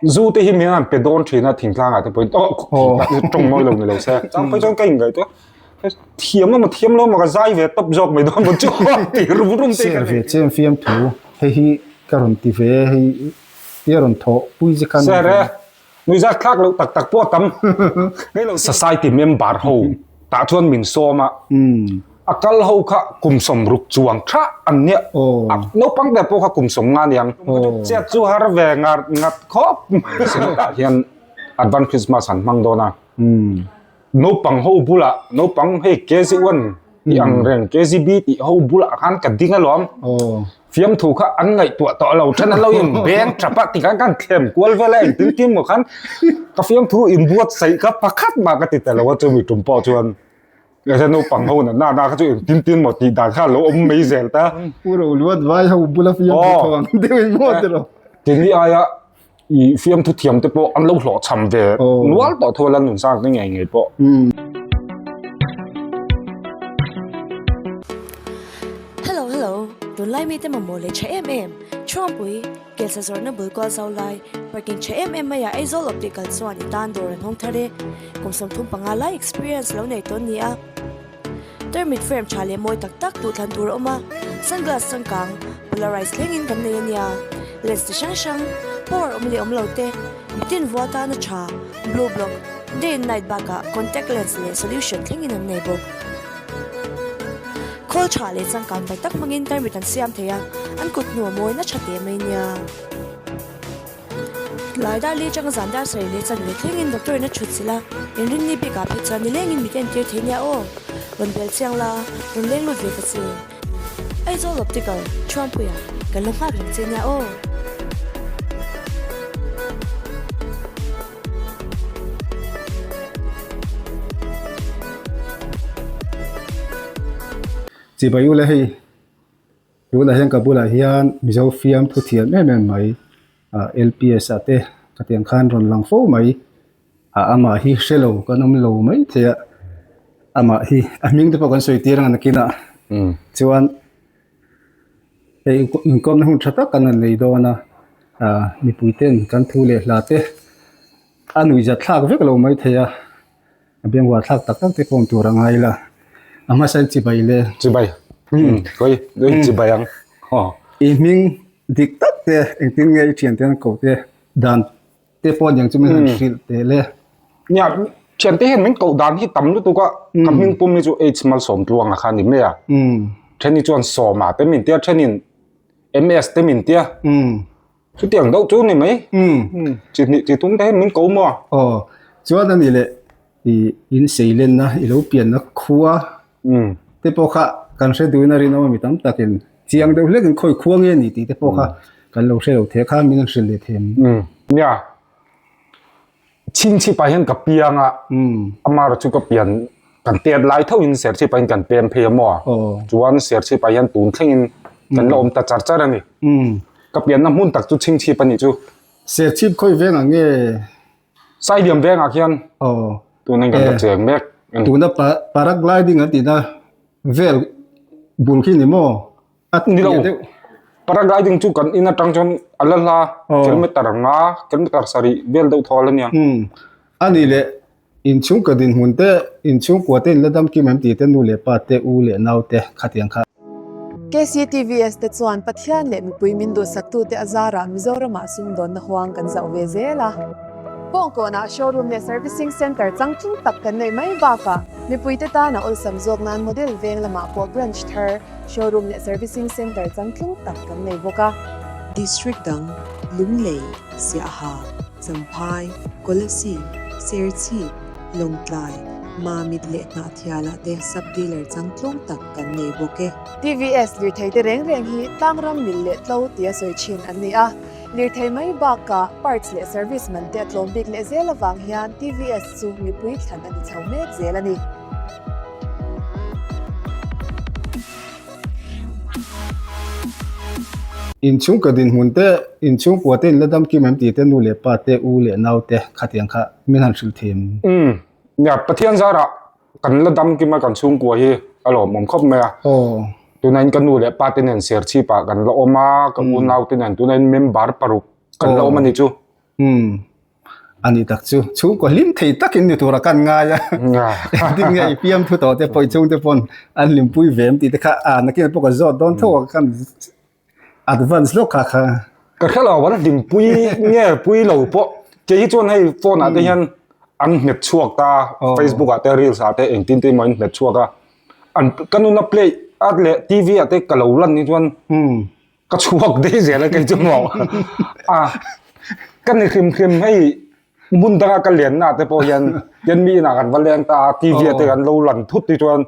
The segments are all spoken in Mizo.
zu te hi mi an pe don thina thing tlang ate point oh tong noi lo ni lo se chang phai chang kai ngai to thiam ma thiam lo ma ka zai ve top jok mai don chu ti rum rum te ka ve chem fiam thu he hi ka ron ti ve hei ti ron tho pui je kan sare nui za thlak lo tak tak po tam ngai lo society member ho ta chuan min sawma A kal ho kha kum sawm ruk chuang tha an nia. Naupang te pawh kha kum sawm nga niang. Chiat chu har ve ngat ngat khawp mai. Sawm tah hian Advance Christmas an hmang dawn a. Naupang ho bulah, naupang hei KZ one tih ang reng, KZB tih ho bulah khan ka ding alawm. Fiamthu kha an ngaihtuah tawh lo ṭhan, an lo inbeng ṭap a. Tikah kan thlen kual vel a, engtin tin maw khan ka fiamthu inbuatsaih kha pakhat mah ka ti ta lo a, chumi ṭum pawh chuan Heta naupang ho natna na kha chu eng tin tin maw tih dan kha lo awm mai zel ta. Pu Ro Luat vai ho bula fiam thu tho ang deuh i maw te rawh. Tin hi aia i fiam thu thiam te pawh an lo hlawh chham ve nual tawh thu a la nun sang te ngei ngei pawh. Hello hello tunlai mite mamawh leh tha em em Chhuangpui. Kelsa zawrhna bul kual zau lai, parking tha em em mai ah Aizawl Optical chuan i tan dawr an hawng thar e. Kum sawmthum panga lai experience lo nei tawn nia. Termite frame tha leh mawi tak tak duhthlan tur a awm a, sunglass changkang polarized thlengin kan nei a nia. Lens ti hrang hrang, power awm leh awm lo te, bitin vua tana tha, blue block, day and night bakah contact lens leh solution thlengin an nei bawk. Khawl tha leh changkang bai tak hmangin tarmit an siam thei a, an kut hnu a mawi nasha teh mai nia. Tlai dar leh changa zan dar sarih leh chan ve thlengin doctor in a chhut sil a, in rinni bikah phei chuan nilengin mit a entir thei nia aw, rawn bel chiang la, rawn leng lut ve ta che. Aizawl Optical, Thruangpuia, kan lo nghak reng che nia aw. Che bai u le hei. Tunah hian ka bulah hian Mizo fiam thu thiam em em mai LPS-ate khatiang khan rawn lang fo mai a amah hi hrelo kan awm lo mai theiha amah hi a hming te pawh kan sawi tir ang nakin a chuan hei inkawmna hun tha tak kan rawn nei dawn a mipuite'n kan thu leh hla te a nuihzat thlak vek lo mai thei a. a bengvâr thlâk tak tak te pawh hmuh tûr a ngai ila, a hmasa hi Chibai le. Chibai, umm kawri chu i chibai ang haw. I hming dik tak te, engtin nge i ṭhiante hian ko te dân te pawh ni ang chu min han hrilh teh le. Nia, ṭhiante hian min ko dân hi tam lutuk a, ka hming pum hi chu AIDS malsawm ṭuanga kha a ni hle a, ṭhen hi chuan sawma te min tia, ṭhenin MS te min tia, chu tiang deuh chu ni mai chi hnih chi tum te hian min ko maw aw chuan a nih leh i in seilenna i lo pianna khua te pawh kha kan hre duin a rinawm a mi tam takin chiang deuh hlek in khawi khua nge ni tih te pawh kha kan lo hrelo thei kha min hrilh leh thei ang nia. Chhing chhipah hian ka piang a, Amara chu ka pian kan tet lai tho in ser chhipah in kan pem phei emaw a, chuan ser chhipah hian tun thleng in kan la awm ta char char a ni. Ka pian na hmun tak chu chhing chhip a ni chu. Ser chhip khawi veng ang e. Sai liam veng ah hian tun in kan la cheng mek a ni. Tuna paragliding an ti na vel bul khi ni maw? Ni lo, paragliding chu kan in atang chuan a la hla kilometre nga, kilometre sarih vel deuh thawh a la niang. Umm, a ni le, inchhung ka dinhmun te, inchhung kua te in la damkim em tih te nu leh pa te, u leh nau te khatiang kha. KCTVS te chuan Pathian leh mipui min duhsaktu te a zarah Mizoramah sumdawnna huang kan zauh ve zel a. Kawngkawnah showroom leh servicing centre changtlung tak kan neih mai bakah mipuite tana awlsam zawk nan model veng lamah pawh branch thar Showroom leh servicing centre chang tling tak kan nei bawk a. District dang, Lunglei, Siaha, Champhai, Kolasi, Serchhi, Lawngtlai, Mamit leh Hnahthiala te sub dealer chang tlawng tak kan nei bawk e. Tvs lirtheite reng reng hi tlang ram mil leh tlo tia sawi thin an ni a. Lirthei mai bakah parts leh service man te a tlawm bik leh zel avang hian tvs chu mipui thlan a ni chho mek zel a ni. In chhungkaw dinhmun te, in chhungkua te in la dam kim em ti te, nu leh pa te, u leh nau te, khatiang kha min han hrilh thim. Umm, nia, Pathian zarah Kan la dam kima kan chhungkua hi a la awmawm khawp mai a. Tunain ka nu leh pa te nen ser chhipah kan la awm a, ka unau te nen tunain member paruk kan la awm a ni chu. A ni tak chu. Chhungkua hlim thei takin ni tura kan ngai a. Engtin nge i piam thu tawh te pawh i chhungte pawn an limpui ve em tih te kha nakin pawh ka zawt dawn tho a. advance hlawk kha kha. Ka hre lo an din pui nge pui lo pawh kei hi chuan hei phone ah te hian an nghet chhuak ta facebook ah te reels ah te engtin te emaw in nghet chhuak a an ka nuna play a leh tv ah te ka lo lan ni chuan ka chhuak daih zel a kei chu maw a ka ni hrim hrim hei Hmun danga ka lian na te pawh hian yan mi ina kan va leng ta a TV ate kan lo lan thut ti chuan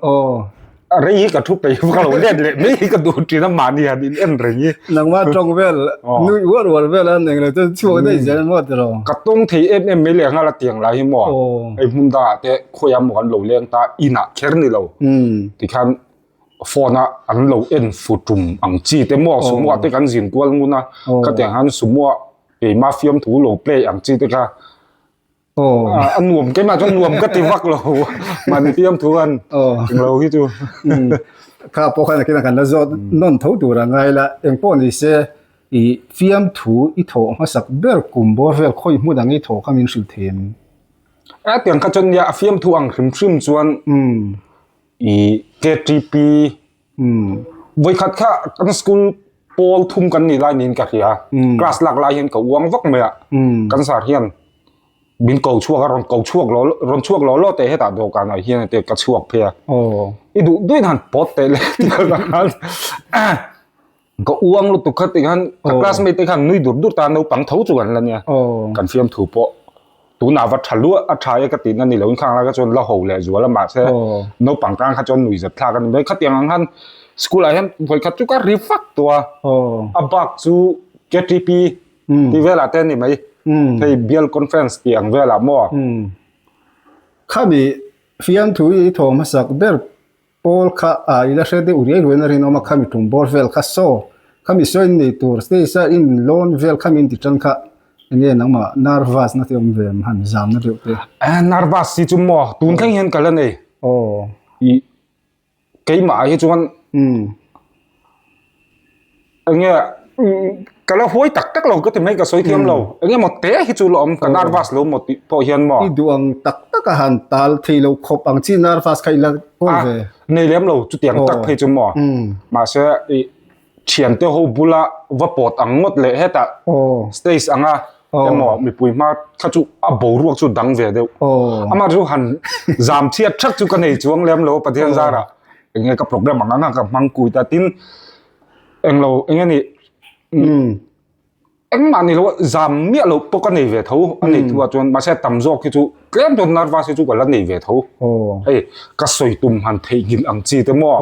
rei hi ka thu pei ka lo let leh mai ka duh thin a mahni han in en reng hi nangma tawng vel nui uar uar vel a ning le chuan chhuak daih zel maw ti lo ka tawng thei em em mai leh nghal a tiang lai hi maw hei hmun danga ate khawia maw kan lo leng ta ina kher ni lo ti khan phone a an lo en fu tum ang chi te maw sumua te kan zin kual ngun a ka tiang han sumua Keima fiam thu lo play ang chi teka. Oh. Ah, an nuam keima chuan nuam ka ti vak lo. Man fiam thu an. Oh. Eng lo hi chu. Hmm. Kha pawh khan kina kan la zawt hmm. non tho tur a ngai la engpawh ni se i fiam thu i thawh hmasak ber kum bawr vel khawi hmun ang i thawh kha min hrilh thei em. A tiang kha chuan nia a fiam thu ang hrim hrim chuan hmm. i KTP vawikhat kha kan school pawl thum kan nih lai niin ka hria a, class lak lai hian ka uang vak mai a, kan zar hian min ko chhuak a, rawn ko chhuak lo lo, rawn chhuak lo lo teh hetah dawhkan ah hian hetiang ka chhuak phei a, i duh duih na'n pawt teh le tih ka zah a. ka u ang lutuk khat te khan ka classmate te khan nui dur dur ta naupang tho chu kan la nia kan fiam thu pawh tuna va tha luah a tha e ka tin ani lo in khang la ka chuan la ho leh zual a mahse naupang tan kha chuan nui zet thlak ani mai khatiang ang khan school ah hian hawi khat chu ka ri fak tua a bak chu KTP ti vela te ni mai thei bial conference ti ang vela mo khami fiam thu i thawm hmasak ber Paul kha a ila hre deuh riai ruain a rinawm a, khami tum bawr vel kha saw, khami saw in nei tur se sa in lawn vel khami in ti tan kha enge nangmah nervous na te awm ve em han zam na deuh te. Aa nervous si chu maw tun thleng hian ka la nei. Aw. I keimah ah hi chuan. Umm. enge ka la huai tak tak lo ka ti mai ka sawi thiam lo enge mo te hi chu lo awm ka nervous lo mo tih pawh hian mo i duang tak tak a han tal thei lo khawp ang chi nervous kha ila hawng ve nei lem lo chu tiang tak phei chu mo ma se i thian te ho bula va pot ang ngot le heta stage anga emo mipui hma kha chu a bo ruak chu dang ve deuh ama chu han zam thiat thak chu ka nei chuang lem lo pathian zara Enge ka program ang anga ka hmang kui ta tin englo enge ni engmah ni lo zam miah lo pawh ka nei ve tho a nei thu a chuan mase tam zawk hi chu tlem dawn narvas hi chu ka la nei ve tho hei ka sawi tum han thei ngil ang chi te maw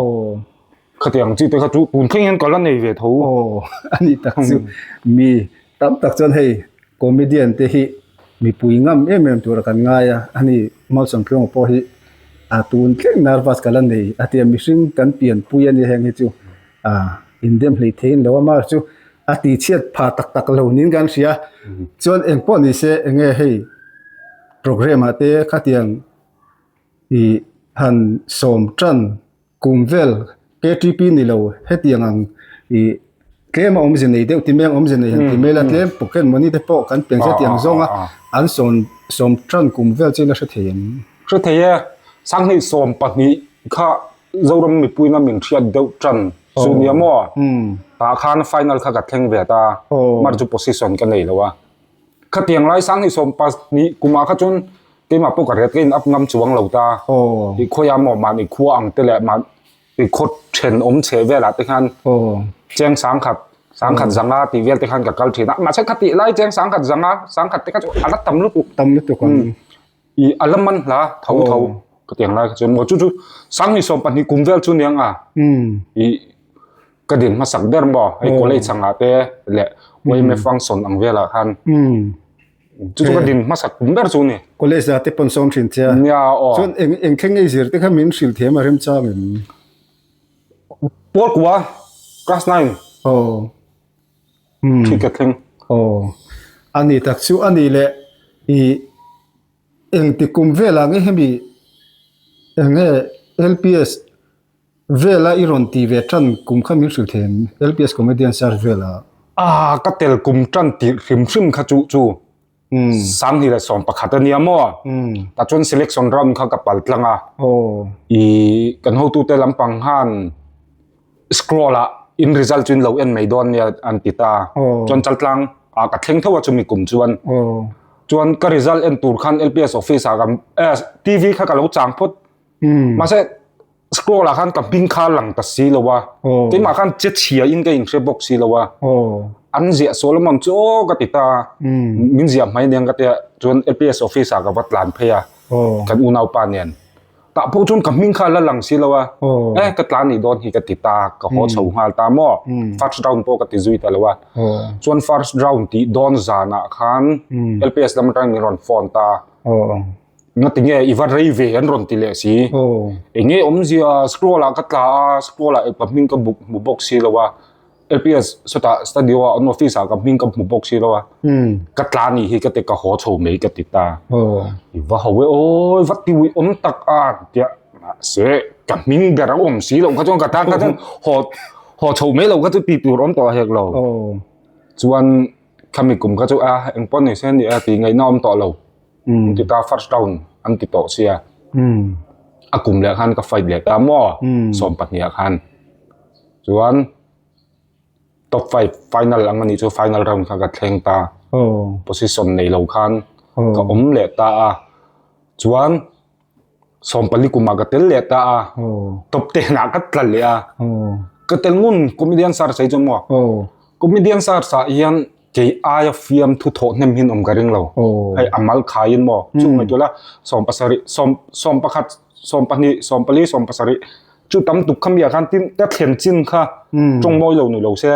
khatiang chi te kha chu tun thleng hian ka la nei ve tho a ni tak chu mi tam tak chuan hei Comedian te hi mipui ngam em em tura kan ngai a, a ni. Mau Sangkiawnga pawh hi a tun tlem nervous ka la nei a tia mihring kan pianpui a nia heng hi chu a indem hlei theiin lo a Mark chu a tichhiat pha tak tak lo niin kan hria chuan eng pawh ni se eng nge hei programme ah te khatiang i han sawm tan. Kum vel KTP ni lo hetiang ang i tlem a awmze nei deuh timeng awmze nei han ti hmel a tlem pocket money te pawh kan pengzia tiang zawng a an sawm sawm tan kum vel chu in la hre thei em? Hre thei e, sanghnih sawm pahnih kha Zoram mipuina min hriat deuh tan chu nia maw? Tah khan final kha ka thleng ve ta, mar chu position ka nei lo a, khatiang lai sanghnih sawm pahnih kumah kha chuan Keimah pawh ka hria tlein up ngam chuang lo ta. Tih khawi a maw? Mahni khua ang te leh mahni khaw then awm chhe velah te khan Cheng Sangkhat, Sangkhat Zanga tih vel te khan ka kal thin a. Mahse kha tih lai Cheng Sangkhat Zanga, Sangkhat te kha chu a la tam lutuk. Tam lutuk ang. I a la man hla tho tho ka tiang lai kha chuan maw chu chu Sang ni sawm pahnih kum vel chu ni ang a. I ka din hmasak ber maw? Hei college angah te leh YMFA ang sawn ang velah khan. Chu chu ka din hmasa tum ber chu ni. College zah te pawn sawm hrin thia. Nia aw. Chuan eng eng thleng ngei zir te kha min hrilh thiam a rem chang em. Pawl kua class nine. Aw. Hmm. Thi ka thleng. Aw. A ni tak chu a nih leh. I engti kum velah nge hemi eng nge LPS Vela i rawn ti ve ṭan kum kha min hrilh thei em? LPS comedian Sir Vela. Aaa ka tel kum ṭan tih hrim hrim kha chuh chu Sangni leh Sawm pakhat a nia maw? Tah chuan selection round kha ka pal tlang a. Ihh kan hotute lampang khan scroll ah in result chu in lo en mai dawn nia an ti ta. Chuan Chaltlang ah ka thleng theuh a chumi kum chuan. Chuan ka result en tur khan LPS office ah kan TV kha ka lo chang phawt. mahse scroll ah khan ka hming kha lang ta si lo a keimah khan che chhia in ka inhria bawk si lo a an ziah sual lam ang chu aw ka ti ta min ziah hmai nen ka tia chuan APS office ah ka va tlan phei a kan unaupa nen tah pawh chuan ka hming kha la lang si lo a e ka tlan ni dawn hi ka ti ta ka haw chho nghal ta maw first round pawh ka ti zui ta lo a chuan first round tih dawn zan ah khan LPS lam atang min rawn phone ta Ngatinge i va rei ve an rawn ti leh si. Oh. Enge omzia scroll ah ka tla a scroll ah ka hming ka buk mu bawk si lo a. LPS seta studio a an office ah ka hming ka mu bawk si lo a. Hmm. Ka tla ni hi ka te ka haw chho mai ka ti ta. Oh. I va hawe oi va tiwi om tak a tia ma se ka hming ber om si lo ka chuan ka ta ka chuan haw haw chho mai lo ka chu ti tur om tawh hek lo. Oh. Chuan kami kum ka chu a engpawh ni se ni a ti ngaihna om tawh lo. Ti ka first round an ti tawh sia. A kum leh khan ka fight leh ta maw? Sawm pahniha khan. Chuan top five final ang ani chu final round khan ka thleng ta. Position nei lo khan ka awm leh ta a. Chuan. sawmpali kumah ka tel leh ta a top ten ah ka tla leh a ka tel ngun comedian sir sei chu maw comedian sir sa hian kei aia fiam thu thawh hnem hin awm ka ring lo hei a mal khai in maw chu nge tula sawm pasari sawm sawm pakhat sawm pahnih sawm pali sawm pasari chu tam tuk kha mi ah khan tin ka thlen chin kha tawng mawi lo ni lo se.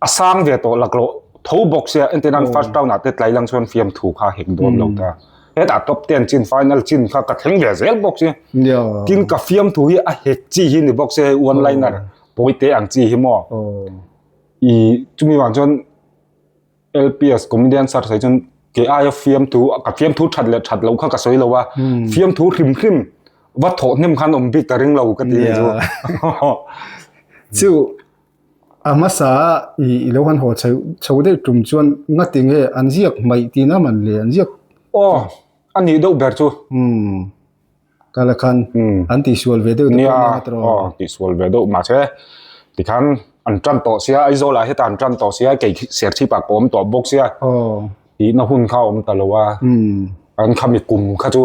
A sang ve tawh lak rawh. Tho bawk sia, engtin an first round ah te tlailang chuan fiam thu kha hek dawn lo ta. Hetah top ten chin final chin kha ka thleng ve zel bawk sia. Tin ka fiam thu hi a hek chi hi ni bawk sia hei one liner pawi te ang chi hi maw. I chumi vang chuan LPS comedian sir sawi chuan kei aia fiam thu, ka fiam thu that leh that loh kha ka sawi lo a. Fiam thu hrim hrim va thawh hnem khan awm bik ka ring lo ka ti chu. Chu A hmasa a ih i lo han haw chheu chho daih tum chuan ngati nge an ziak hmaih tihna a man le an ziak. Aw a nih deuh ber chu. Umm ka la khan an tih sual ve deuh te pawh nia Matro. Aw an tih sual ve deuh mahse tikhan an tan tawh sia Aizawl ah heta an tan tawh sia kei Serchhip ah ka awm tawh bawk sia tihna hun kha a awm ta lo a an khami kum kha chu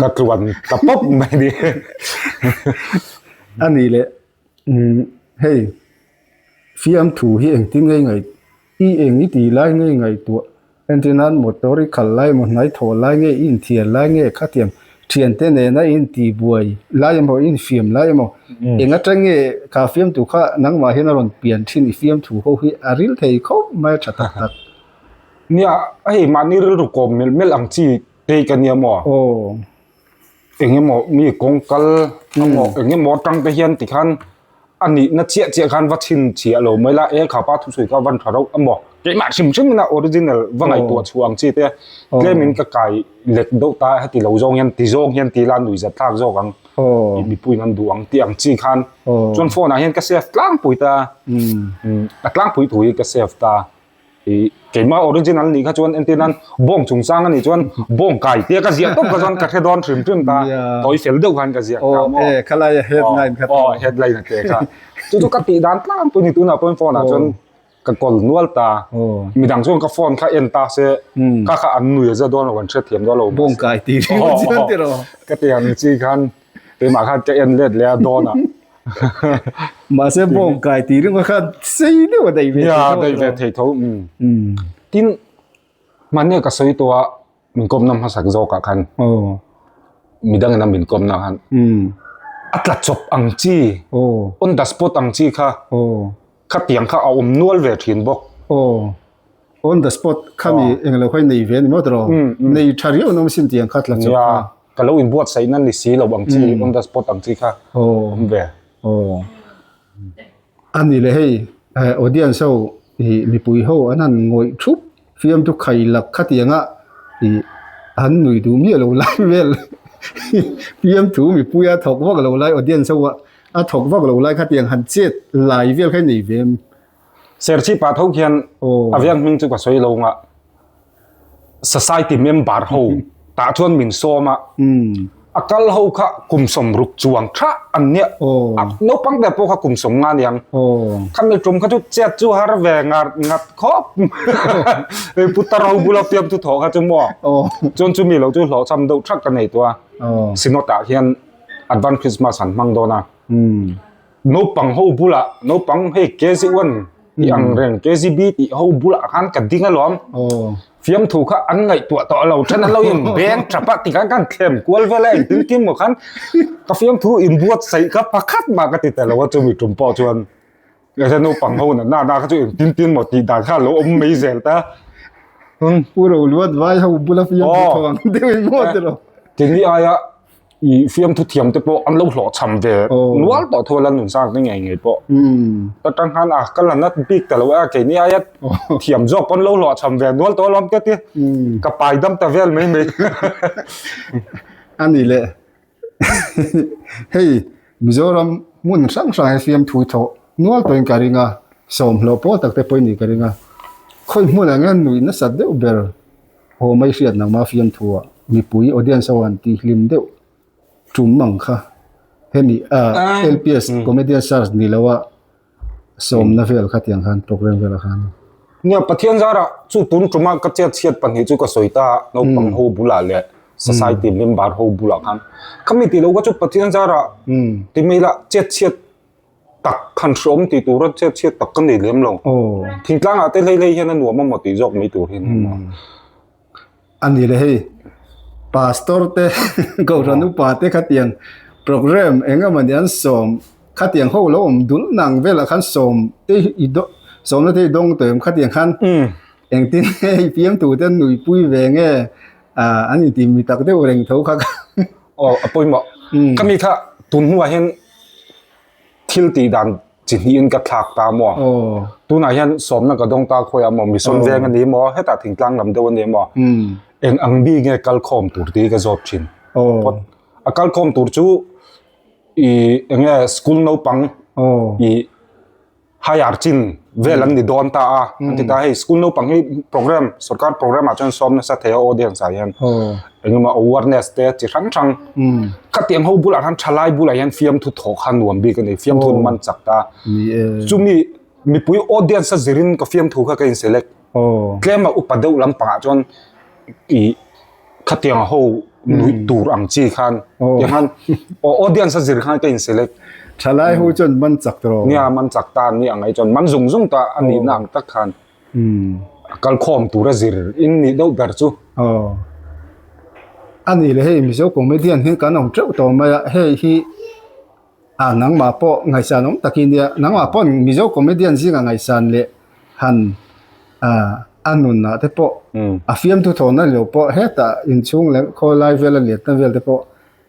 ka tluan ta pawp mai a ni. A ni le. Umm hei fiam thu hi engtin ngei ngei i eng i tih lai ngei ngei tuah engtin nan motor i khalh lai emaw hnaithawh lai nge i inthiar lai nge khatiang thiante nena i intihbuai lai emaw i infiam lai emaw eng atang nge ka fiam tu kha nangmah hian a rawn pian thin i fiam thu ho hi a ril thei khawp mai a tha tak tak nia a hei mahni rilru kawm melh melh ang chi te i ka nia maw aw. eng emaw mi kawng kal a maw eng emaw atang te hian ti khan a nihna chiah chiah khan va chhinchhiah lo mai la e khapa thusawi kha van tha rauh a maw keimah hrim hrim in a original va ngaihtuah chhuah ang chi te tlem in ka kai lek deuh ta heti lo zawng hian ti zawng hian ti la nui zat thlak zawk ang i mipui an duh ang tih ang chi khan chuan phone ah hian ka save tlangpui ta a tlangpui thu hi ka save ta. ih keimah original nih kha chuan entir nan bawng chung sang a nih chuan bawng kai tia ka ziah tawp ka chuan ka hre dawn hrim hrim ta tawi fel deuh khan ka ziah ta maw e khalai a headline kha aw headline a te kha chu chu ka tih dan tlang pui ni tunah pawn phone ah chuan ka call nual ta midang chuan ka phone kha en ta se ka kha an nuih a za dawn lo kan hre thiam dawn lo bawng kai ti ka ti ang chi khan Keimah khan ka en let leh a dawn ah. Mahse bawngkai ti ringa khan sei deuh a dei ve thei tho. Nia, dei ve thei tho. Tin, mahnia ka sawi tawh a, min kawmna hmasak zawkah khan, midang ina min kawmna khan, a tla chawp ang chi, on the spot ang chi kha, khatiang kha a awm nual ve thin bawk. On the spot khami englo kha i nei ve a ni maw tiraw? Nei tha riau an awm sin tiang kha tla chawp kha. ka lo in buat saihna ni si lo ang chi mm. on the spot ang chi kha oh um ve oh ani le hei eh, audience ho hi mipui ho anan ngoi thup fiam tu khai lak kha tianga i han nui du mi lo lai vel fiam tu mipui a thok vak lo lai audience ho a thok vak lo lai kha tiang han chet lai vel khai nei vem Serchhip ah tho khian a viang hming chu ka sawi lo nga society member ho tah chuan min sawm a a kal ho kha kum sawm ruk chuang tha an nia naupang ber pawh kha kum sawm nga niang khami kum kha chu chet chu har ve ngat ngat khawp mai putar ho bula fiam thu thaw kha chu maw chuan chu mi lo chu hlawh cham deuh thak ka nei tua synod ah hian advance christmas an hmang dawn a Naupang ho bulah naupang hei kezi wan tih ang reng kezi bi tih ho bulah khan ka ding alom fiam thu kha an ngai tu to alo chan alo in beng chapa ti kan kan thlem kual vela in tin kim mo khan ka fiam thu in buat sai ka pakhat ma ka ti ta lo chu mi tum po chuan ka sa naupang ho na na na ka chu in tin tin mo ti dan kha lo om mai zel ta um puro luat vai ho bula fiam thu thawang deuin mo ti lo ti ni ai a i fiamthu thiam te pawh an lo hlawh chham ve nual tawh thua la nun sang te ngei ngei pawh ta tang han a ka lan a bik ta lo a kei ni aia thiam zawk pawn lo hlawh chham ve nual tawh alawm ka ti ka pai dam ta vel mai mai ani le hei Mizoram hmun hrang hrang he fiamthu tho nual tawhin ka ring a sawm hlawh pawl tak te pawhin ni ka ring a khawi hmunah nge nuih nasat deuh ber. Haw mai hriat nang ma fiam thu ah mipui audience ho an ti hlim deuh tum ang kha hemi ah lps comedian stars ni lo a sawmna vel kha tiang khan program vel ah khan Nia Pathian zar ah chu tun tum ah ka chet chhiat pahnih chu ka sawi ta a naupang ho bul ah leh society member ho bul ah khan ka mi ti lo kha chu Pathian zar ah ti mai lah chet chhiat tak khan hreawm tih tura chhiat tak ka nei lem lo. Thingtlangah te hleilei hian a nuam a maw tih zawk mai tur hi a ni maw? A ni le hei, Pastor te, Gohra nupa te khatiang program eng emawni an sawm khatiang ho lo awm dul nang velah khan sawm te i dawng, sawmna te i dawng tawh em khatiang khan engtin nge hei fiamtute an nuipui ve nge? Ah, an intih mi tak deuh reng tho kha. Aw, a pawimawh. Ka mi kha tun hnuah hian thil tih dan chi hnihin ka thlak ta maw? Tunah hian sawmna ka dawng ta khawiah maw? Mission veng a ni maw? Hetah thingtlang lam deuh a ni maw? Eng ang bik nge kal khawm tur te hi ka zawt thin. Phawt. A kal khawm tur chu i eng nge school naupang i hire chin vel an ni dawn ta a an ti ta hei school naupang hi program sorkar program ah chuan sawm nasa thei a audience ah hian engemaw awareness te chi hrang hrang ka tiang ho bulah han thalai bulah hian fiam thu thawk han nuam bik ani fiam thu man chak ta chumi mipui audience a zirin ka fiam thu kha ka in select Aww. Tlema upa deuh lampangah chuan i khatianga ho nuih tur ang chi khan tiang khan aw audience a zir khan ka in select. Thalai ho chuan man chak ta rawh. Nia man chak ta nia ngai chuan man zung zung ta a nihna ang tak khan a kal khawm tur a zir in nih deuh ber chu. Aww. A nih leh hei Mizo comedian hi kan awm teuh tawh mai a hei hi. A, nangmah pawh ngaisan awm takin nia, nangmah pawn Mizo comedian zinga ngaisan leh han a nunna te pawh a fiamthu thawhna lio pawh heta inchhung leh khawlai vel a letna vel te pawh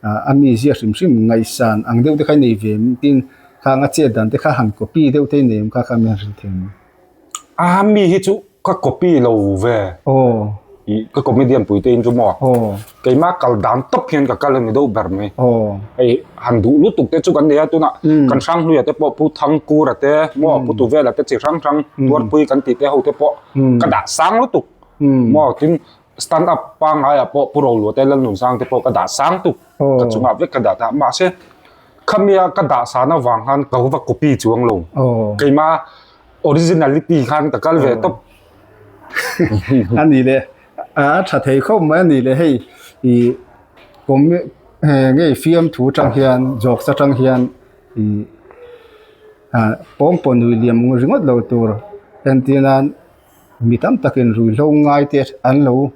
a mi ziah hrim hrim ngaisan ang deuh te kha i nei ve em tin khang a chet dan te kha han copy deuh te i nei ang kha kha mian hrilh thei ang. Aa mi hi chu ka copy lo ve. Aww. I ka comedian pui te in chu maw. Aww. Keima kal dan tawp hian ka kal a ni deuh ber mai. Aww. Hei han duh lutuk te chu kan nei a tuna kan hrang hluia te pawh Pu Thangkura te maw Pu Tuvela te chi hrang hrang Tuarpui kan tih te ho te pawh ka dah sang lutuk. Maw tin. Stand up pangaiah pawh pu Roluate Lalnunzang te pawh ka dah sang tuk, ka chungah vek ka dah ta. Mahse, khamia ka dah san avang khan ka va copy chu ang lo. Keima originality khan ka kal ve tawp. A ni le, a tha thei khawp mai a ni le. Hei i ngei fiamthu atang hian, zawksa atang hian i pawngpawnui liam ringawt lo tur entirnan mi tam takin ruihhlo ngai te an lo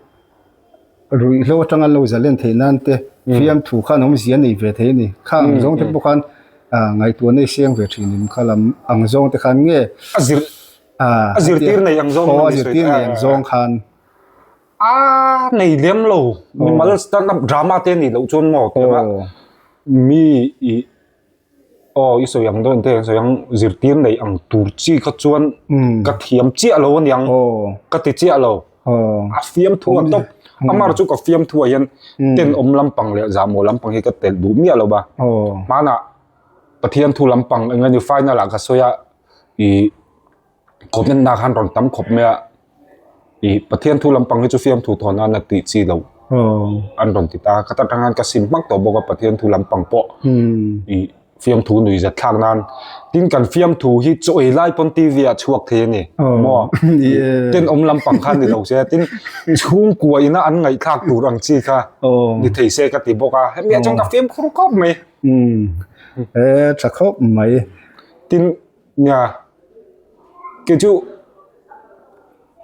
ruihhlo atanga an lo za len theih nan te fiamthu kha an awm zia nei ve thei a ni. Kha ang zawng te pawh khan ngaihtuahna hi seng ve thin em kha lam ang zawng te khan nge a zir a zirtir nei ang zawng a zirtir nei ang zawng khan a nei lem lo mimal stand up drama te nih loh chuan maw mi i Aw i sawi ang dawn te an sawi ang zirtir neih ang tur chi kha chuan ka thiam chiah lo ani ang ka ti chiah lo a fiam thua tawp amar chu ka fiam thua hian ten awm lampang leh zahmawh lampang hi ka telh duh miah lo va hmanah pathian thu lampang engemaw ni final ah ka sawi a i Commentna khan rawn tam khawp mai a, i Pathian thu lampang hi chu fiam thu thawn a na tih chi lo an rawn ti ta. Ka ta tangin ka sim hmak tawh bawk a Pathian thu lampang pawh i fiam thu nui zet thlak nan. Tin kan fiam thu hi chawi lai pawn TV ah chhuak thei a ni maw? Ten awm lampang khan ni lo se. Tin chhungkua ina an ngaih thlak tur ang chi kha ni thei se ka ti bawk a. Hemi ah chuan ka fiam khur khawp mai. Tha khawp mai. Tin Nia, kei chu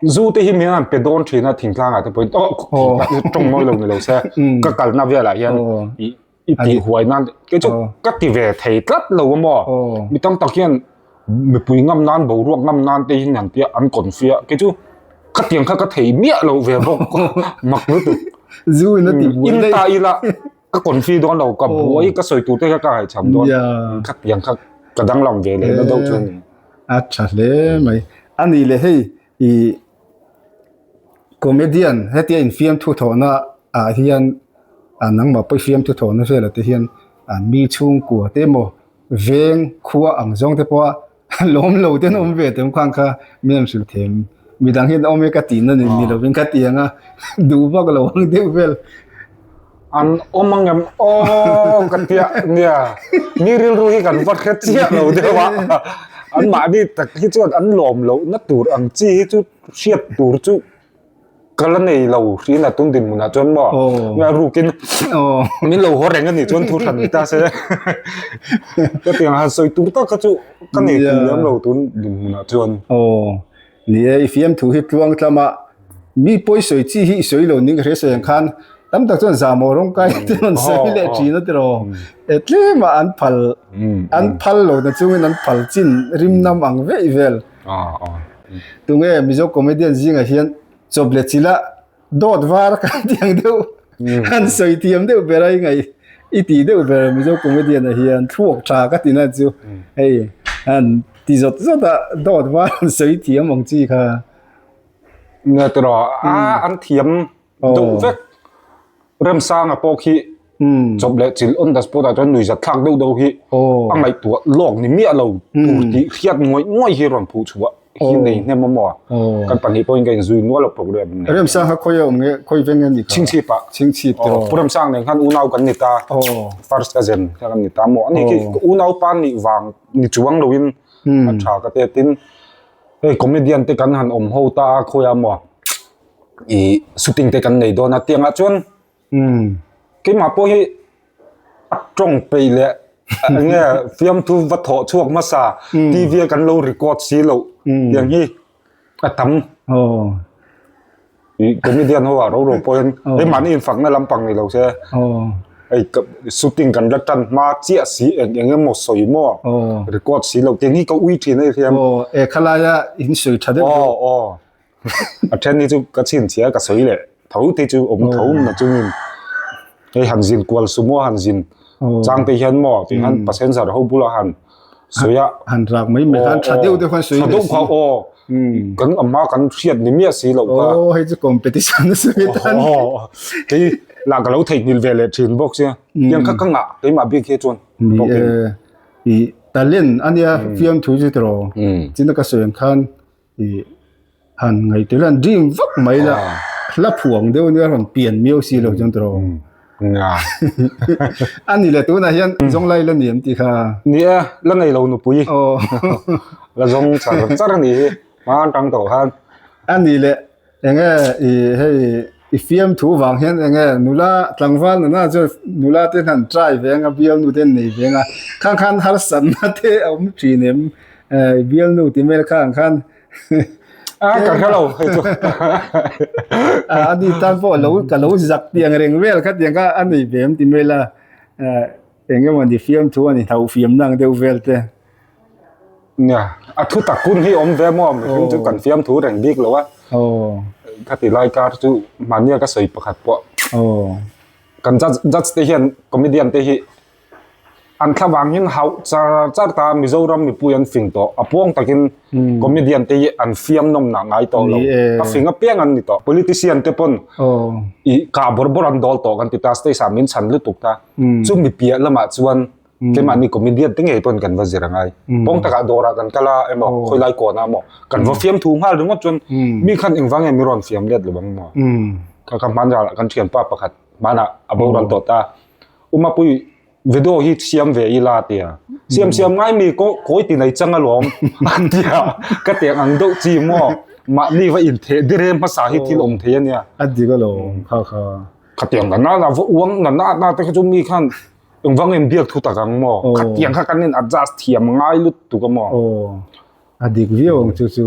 zu te hi mian pe don thina thing tlang ate point oh tong mo lo ni lo se hmm. ka kal na vela hian oh. i i ti huai nan ke chu oh. ka ti ve thei tlat lo mo oh. mi tam tak hian mi pui ngam nan bo ruak ngam nan te hin ang tia an kon fia ke chu ka tiang kha ka thei miah lo ve bok mak lu tu zu na ti hmm. in ta ila ka confuse don lo ka buai ka soi tu te ka hai cham don khat yang khat ka dang lam ve le na do chu ni a tha hle mai ani le hei i comedian hetia in fiam thu tho na a hian a nang ma poi fiam thu tho na vel ate hian mi chhung kua te mo veng khua ang zong te pawh Lawm lo ten awm ve tem khan kha min an hrilh thei em. Midang hian awm e ka ti na nen ni lo vin ka ti ang a. Du vak lo ang deuh vel. An awm ang em aw ka tia nia. Mi rilru hi kan va hre chiah lo deuh a. Anmahni tak hi chuan an lawm loh na tur ang chi hi chu hriat tur chu ka la nei lo hriin a tum dinhmun ah chuan maw nge a ruk in min lo haw reng a nih chuan thu hran ni ta se hetiang han sawi tur tak kha chu ka nei kum lem lo tun dinhmun ah chuan ni e i fiam thu hi tluang tlam a mi pawi sawi chi hi i sawi lo ning ka hre sawi ang khan tam tak chuan zamo rawng kai te rawn sawi leh thin a ti lo e tlem a an phal an phal lo na chung in an phal chin rim nam ang veih vel. tunge mizo comedian zinga hian chawple chila dawt var kan tih ang deuh han sawi thiam deuh ber a i ngaih i ti deuh ber mizo comedian a hian thluak tha ka tina chu hei han ti zawt zawt a dawt var han sawi thiam ang chi kha ngaihtuah rawh a an thiam Duh vek. Remsanga pawh khi chawp leh chil on the spot a chuan nui zat thlak deuh deuh hi a ngaih tuah lawk ni miah lo tur tih hriat nguai nguai hi a rawn phuh chhuah hi nei hnem maw a. Kan pahnih pawh in ka inzui nual a program ni ngei. Remsanga khawi a awm nge? Khawi veng em ni kha? Chhingchhip ah. Chhingchhip te rawh. Pu Remsang nen khan unau kan ni ta, first ka zen kha kan ni ta maw. Ani khi unau pa nih vang ni chuang lo in a tha ka te tin hei comedian te kan han awm ho ta a khawi a maw. i shooting te kan nei dawn a tiangah chuan keimah pawh hi a tawng peih leh enge fiamthu va thawh chhuak hmasa TV a kan lo record si lo tiang hi a tam i comedian ho ah ro ro pawhin hei mahni infakna lampang ni lo se hei shooting kan la tan hma chiah si eng eng emaw sawi maw record si lo tiang hi ka ui thin a ni hian e khalaia in sawi tha deuh deuh. a then ni chu ka chhin chhia ka sawi leh tho te chu awm tho na chungin hei han zin kual sumo han zin chang te hian maw ti han passenger ho bula han soya han rak mai mai han tha deuh deuh han soi deuh kha o kan amma kan hriat ni mi a si lo ka o hei chu competition a si tan ti la ka lo thei nil ve le thin box ya yang kha kanga ei ma bik he chon i talent ania fiam thu chu tro chin ka soyan khan ih han ngaihtir han dream vak mai la hla phuang deuh nia han pian miau si lo chuan tiraw nga a ni le tunah hian zawnglai la ni em ti kha ni a la nei lo nupui aw la zawng char char a ni hi hmang tang tawh khan a ni le Enge i hei i fiam thu vang hian enge nula tlangval nana chuan nula te han try ve anga bialnu te an nei ve anga khang khan harsatna te a awm thin em i bialnu ti mel kha ang khan a ka hre lo hei chu a ani tan pawh lo ka lo zak tiang reng vel kha tiang kha a nei ve em ti mel a Eng emaw ni fiam thu a ni hna, ufiam nang deuh vel te. Nia, a thu tak hun hi awm ve maw? Mihring chu kan fiam thu reng bik lo a. Khati lai kar chu mahnia ka sawi pakhat pawh. Kan judge te hian comedian te hi an thla vang hian hauh char char ta Mizoram mipui an fing tawh. A puang takin comedian te hi an fiam nawm nah ngai tawh lo. A fing apiang an ni tawh. Politician te pawn kah bawr bawr an dawl tawh kan ti ta, stage ah min chhan lutuk ta. chu mi piah lamah chuan kemahni comedian te ngei pawn kan va zir angai pawng taka dawrah kan kala emaw khawilai kawna emaw kan va fiam thu nghal ringawt chuan mi khan engvang nge mi rawn fiam let lo vang maw ka ka hman ral kan thianpa pakhat hmana a bo ral tawh ta umapui video hi siam ve i la tia siam siam ngai mi ko koi ti nei chang alom an tia ka tiang ang deuh chi maw mahni va in the dire hmasa hi thil awm thei ania a ding alo kha kha Khatiang ka nana uang nana na te chu mi khan engvang in biak thu tak ang mo khatiang kha kan in adjust thiam ngai lut tu ka mo a dik viau ang chu chu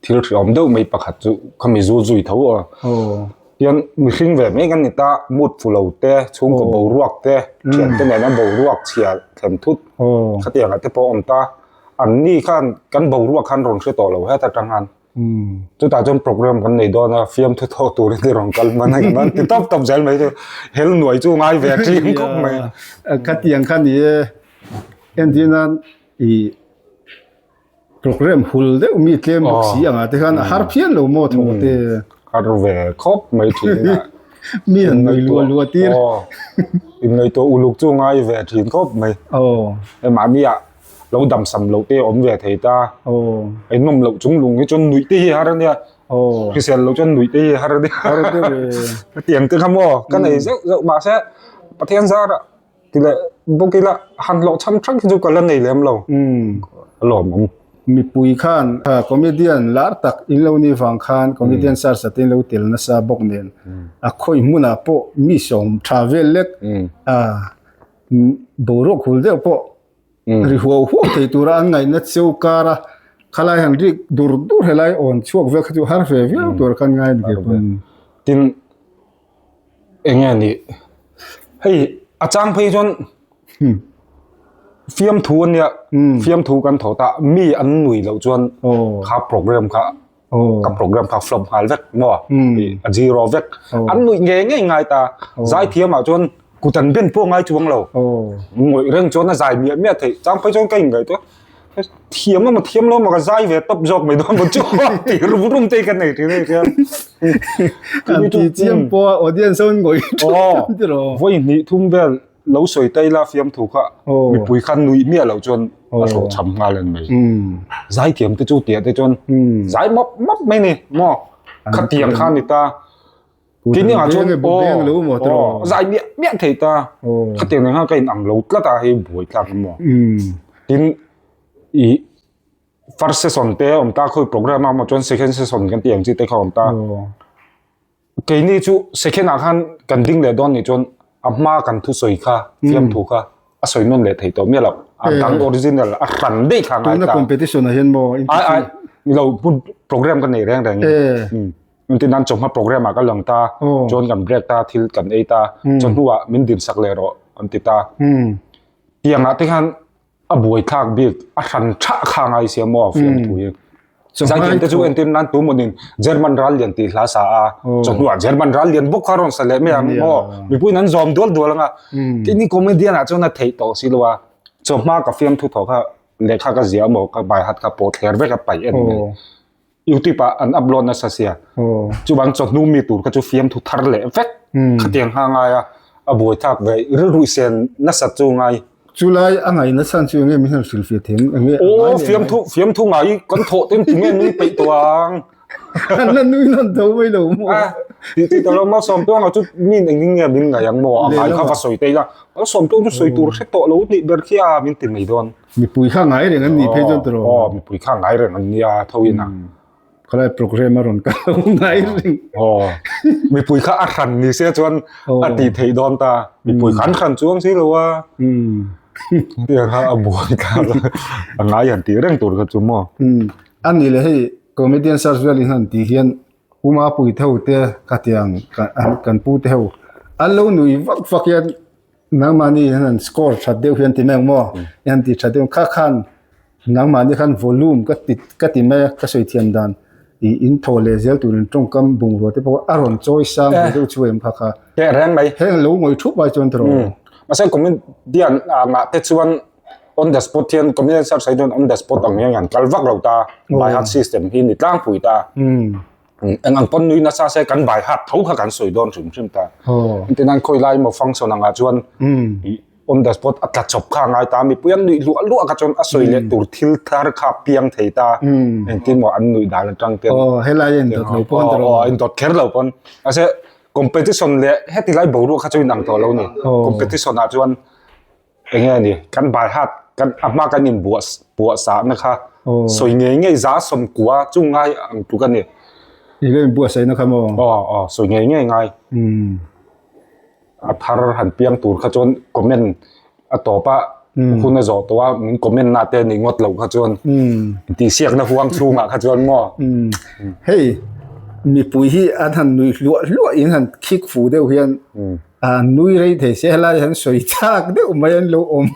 thil thiam deuh mai pakhat chu khami zu zui tho a hian mi hring ve mai kan ni ta mut fulo te chung ko bo ruak te thiam te nena bo ruak chhial thlen thut khatiang te pawh om ta an ni khan kan bo ruak khan rawn hre tawh lo het atang han Chutah chuan program kan nei dawn a, fiam thu tho turin i rawn kal hman ang an ti tawp tawp zel mai chu. Hel nuai chu ngai ve a tling khawp mai a. Khati ang kha ni e, entirna i program hul deuh mi tlem bawk si ang a te khan a har phian lo maw tho ka ti. Har ve khawp mai thin a. Mi an nuai lua lua tir. Innuai tawh uluk chu ngai ve a thin khawp mai. Aw. Mahni ah. lo damsam lo te awm ve thei ta eihnawm lo chung lung hi chuan nuih te hi har ania hrisel lo chuan nuih te hi har ania har te ve tiang te kha maw ka nei zeuh zeuh mahse pathian zara ti leh bawk ila han hlawh chham thang khi chu ka la nei lem lo a lawm ang mipui khan comedian lar tak in lo ni vang khan comedian sar sa te in lo tel nasa bawk nen a khawi hmunah pawh mi sawm tha vel lek a boruak hul deuh pawh ri huau huau thei tura an ngaihna cheu kar a, khalai han rik dur dur helai awn chhuak vel kha chu har ve viau tur khan ngai ni tih a hman. Tin, eng nge ni, hei a chang phei chuan fiamthu a nia, fiamthu kan tho ta, mi an nui loh chuan kha programme kha, ka program kha flop nghal vek maw a zero vek an nuih nge nge ngai ta zai thiam ah chuan kutan ben pawh ngai chuang lo ngawih reng chuan a zai miah miah thei chang phai chuan ka ingaih tu a thiam lawma thiam lawma ka zai ve tawp zawk mai dawn chu ti rum rum te ka nei thei chuan kan ti chiam pawh audience ho in ngawih thu awm ti lo vawi hnih thum vel lo sawi ta ila fiamthu kha mipui khan nui mia lo chuan a hlawh chham nghal an mai zai thiam te chu tia te chuan zai map map mai ni mo kha tiang khan ni ta kini a chuan bo beng lo mo tro zai mia mia thei ta kha tiang ni ha ka in ang lo tla ta hei buai tlak mo tin i first season te om ta khoi program a mo chuan second season kan tiang chi te kha om ta Keini chu second ah khan kan ding leh dawn nih chuan a hma kan thu sawi kha fiam thu kha a sawi nawn leh thei tawh miah lo a dang original a hran daih thla ngai ta. Tuna competition ah hian maw interesting. Ai ai i lo hmun program ka nei reng reng i engtin nan chawhma program ah ka lang ta chuan kan break ta thil kan ei ta chawhnu ah min din sak leh rawh an ti ta tiang ah te khan A buai thlak bik a hran tha kha ngai sia maw a fiam thui hi. Zaitin te chu entir nan tum awnin German ral lian tih hla sa a. Chawhnuah German ral lian bawk kha rawn sa leh mai ang maw? Mipuiin an zawm dual dual anga. Kei ni comedian ah chuan a theih tawh si lo a. Chawhma ka fiam thu thaw kha lehkha ka ziah maw ka baihat kha pawh thler vek a paih a ni mai. youtube ah an upload na sa sia chu bang cho hnu mi tur ka chu fiam thu thar le vek khatiang ha ngai a a buai thak ve ri ru sen na sa chu ngai chu lai a ngai na san chu nge mi han sil fiat theng nge o fiam thu fiam thu ngai kan tho tin ti nge nui pe to ang kan na nui nan tho mai lo mo a ti ti to lo ma som tu ang chu mi ne ning nge min ngai ang mo a ngai kha va soi te la a som tu chu soi tur hre to lo ni ber khi a min ti mai don Mipui kha ngai reng an ni phei chuan tawrh. Aw mipui kha ngai reng an nia thoin a. Khalai program a rawn kal lo ngai reng. Aw mipui kha a hran ni se chuan a tih theih dawn ta. Mipui kha an hran chuang si lo a. Tiang kha a buai ta a ngai han tih reng tur kha chu maw. A ni le hei comedian Sars Vialinghnan tih hian Puma puitho te ka tiang kan pu te ho an lo nui vak vak hian nang mahni hian an score that deuh hian ti mek maw hian ti that deuh kha khan nang mahni khan volume ka ti ka ti mai ka sawi thiam dan i in thaw leh zel tur in tawngkam bungrua te pawh a rawn chawi sang ve deuh chu em kha kha he reng mai he lo ngawih thup mai chuan tawrh masai comedy an ngah te chuan on the spot hian community sar saidun on the spot ang hian han kal vak lo ta by heart system hi ni tlang pui ta eng ang pon nui na sa se kan by heart tho kha kan soi don hrim hrim ta intinan khoi lai mo function anga chuan on the spot a tla chop kha ngai ta mi puyan nui lu lu aka chuan a soi le tur thil thar kha piang thei ta engtin mo an nui dan atang te oh helai en dot lo pon ta lo en dot kher lo pon ase competition le hetilai boruak kha chu inang tawh lo ni competition a chuan Eng nge ani, kan baihat kan a hma kan in buah buah sahna kha sawi ngei ngei za sawm kua chu ngai ang tuk ani. Ih leh buah saina kha maw? Aw aw sawi ngei ngei ngai. Um. A thar han piang tur kha chuan comment a tawp a hun a zawh tawh a min comment na te nih ngawt lo kha chuan tihsiakna huang chhungah kha chuan maw. Um. Hei mipui hi an han nui hluah hluah in han khik fu deuh hian An nui rei thei se helai han sawi chak deuh mai an lo awm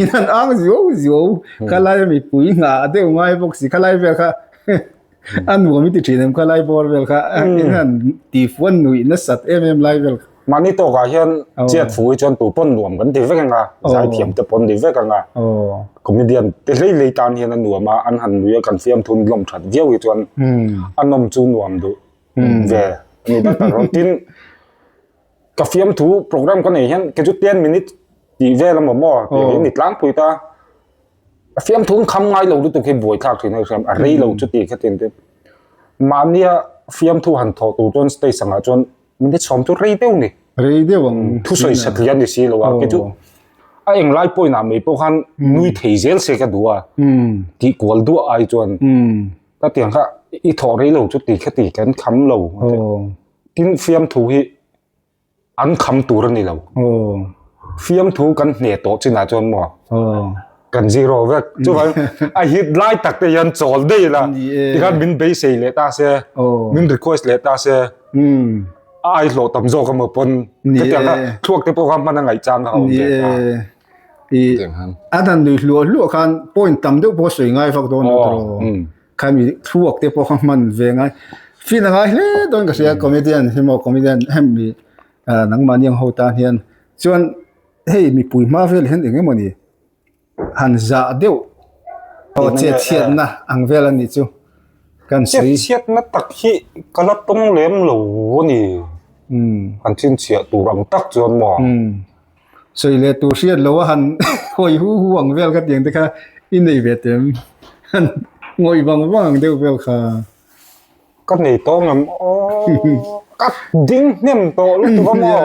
in han ang zio zio khalai a mipui ngha a deuh ngai bawk si khalai vel kha a nuam i ti thin em khalai bawr vel kha in han tifuan nuih nasat em em lai vel kha. Mahni tawk ah hian chiat fu hi chuan tuipawn nuam kan ti vek eng a zai thiam te pawh an ni vek ang a comedian te hlei hlei tan hian a nuam a an han nui a kan fiamthun lawm that viau hi chuan a nawm chu nuam duh. Hmm. Ve. Ni ta ta ron tin. Ka fiam thu program ka nei hian ke chu 10 minute ti ve lam mo ti oh. ni tlang pui ta. Ka fiam thu kham ngai lo lu tu ke buai thak thin hian a rei lo hmm. chu ti kha tin te. Mania fiam thu han tho tu chon stay sanga chon minute som tu rei deu ni. Rei deu ang. Hmm. Thu soi sat lian ni si lo a ke chu. Oh. A eng lai poi na mai po khan hmm. nui thei zel se ka duwa. Ti kwal duwa ai chon. ka tiang kha i thawh rei lo chu ti kha ti kan kham lo tin fiam thu hi an kham tur ani lo fiam thu kan hne to china chuan mo kan zero vek chu vai a hit lai tak te yan chawl dei la ti khan min bei sei le ta se min request le ta se ai lo tam zo ka mo pon ka tiang kha thuak te po ka man angai chang ka om ve ta Adan lui hluah hluah khan point tam deuh pawh sawi ngai vak dawn ata rawh. Khan i thluak te pawh kha hman ve ngai. Feel a ngai hle dawn ka sia comedian hi maw comedian ahem mi nangmah ni ang ho tan hian chuan hei mipui hma vel hian eng emaw ni han zah deuh aw chetchhiatna ang vel a ni chu kan sawi. Chetchhiatna tak hi ka la tawng lem lo a ni. Han chinchhiah tur ang tak chuan maw. Sawi leh tur hriat loh a han hawi hu hu ang vel ka tiang te kha i nei ve tem. Han ngawih vang vang ang deuh vel kha. Ka nei tawng em aww. Ka ding hnem tawh lutuk a maw?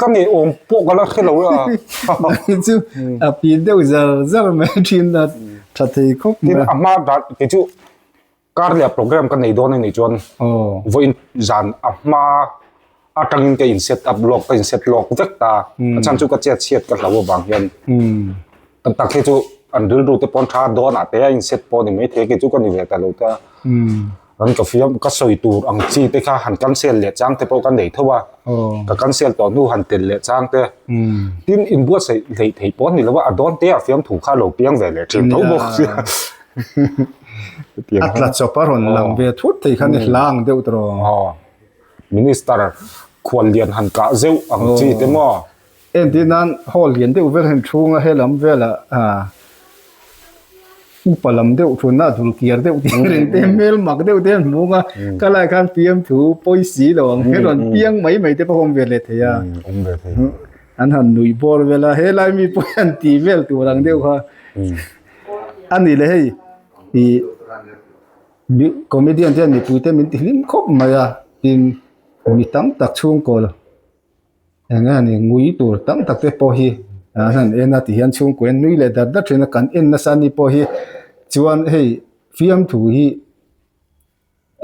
Ka nei awm pawh ka la hre lo a. Nai chu a pi deuh zar zar mai a thin a tha thei khawp mai. Tin a hma dan ti chu Kar leh a program ka nei dawn a nih chuan vawiin zan a hma atangin ka in set up lawk ka in set lawk vek ta a chhan chu ka chet chhiat ka hlau avang hian kan tak khi chu an rilru te pawn tha dawn ah te a in set pawh ni mai thei khi chu ka ni ve ta lo ta kan ka fiam ka sawi tur ang chi te kha han cancel leh chang te pawh ka nei tho a ka cancel tawh hnu han tel leh chang te tin in buatsaih hlei thei pawh a ni lo a a dawn te a fiam thu kha lo piang ve leh thin tho bawk. a tla chawp a rawn lang ve thut thei khan i hla ang deuh ta raw. Minister khual lian han kah zeuh ang chi te maw? Entih nan haw lian deuh vel hian chhunga he lam vela upa lam deuh thunna a dul kiar deuh tih a rin tih hmel mak deuh te an hmung a, ka lai khan PM thu pawi si lo ang hi rawn piang mai mai te pawh awm ve leh thei a, an han nuih bawr vel a, he lai mi pawhin an ti vel tur ang deuh kha. A ni le hei ih mi comedian hian mipuite min ti hlim khawp mai a tin mi tam tak chhungkawl eng nge a ni ngui tur tam tak te pawh hi ah hian an en a tihian chhungkua hian nui leh dat dat thin a kan en nasa ni pawh hi chuan hei fiamthu hi--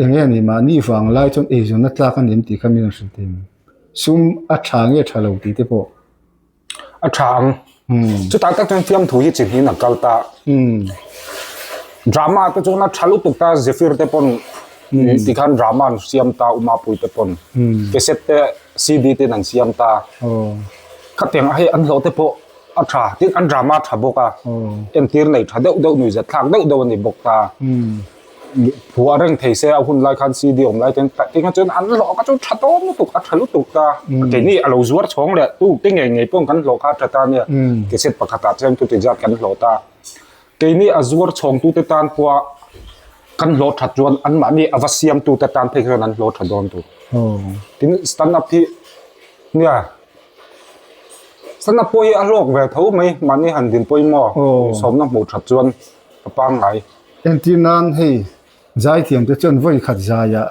Enge a nih mahni vang lai chuan eizawn a tlak a nem tih kha min rawn hre thei ang. Sum a tha nge a tha lo tih te pawh. A tha ang. Chutah tak chuan fiamthu hi chi hnihin a kal ta. Drama te chuan a tha lutuk ta, Zephyr te pawn tikhan drama an siam ta, Umapuii te pawn. Cassette te, CD te an siam ta. Khatiang a hei an hlawh te pawh a tha. Tin an drama a tha bawk a. Entir nei tha deuh deuh, nuihzet thlak deuh deuh a ni bawk ta. Phuah reng thei se a hun lai khan CD awm lai ten tah tih khan chuan an hlawh ka chu tha tawh lutuk a tha lutuk ta keini a lo zuar chhawng leh tu te ngei ngei pawng kan hlawh kha a tha ta nia cassette pakhat ah chuan chuti zat kan hlawh ta keini a zuar chhawng tu te tan pawh kan hlawh that chuan an mahni a va siam tu te tan phei chuan an hlawh tha dawn tur tin stand up hi nia stand up pawh hi a hlawk ve tho mai mahni han din pawimawh sawmna hmuh that chuan a pangngai Entir nan hei zaithiam te chuan vawi khat zaia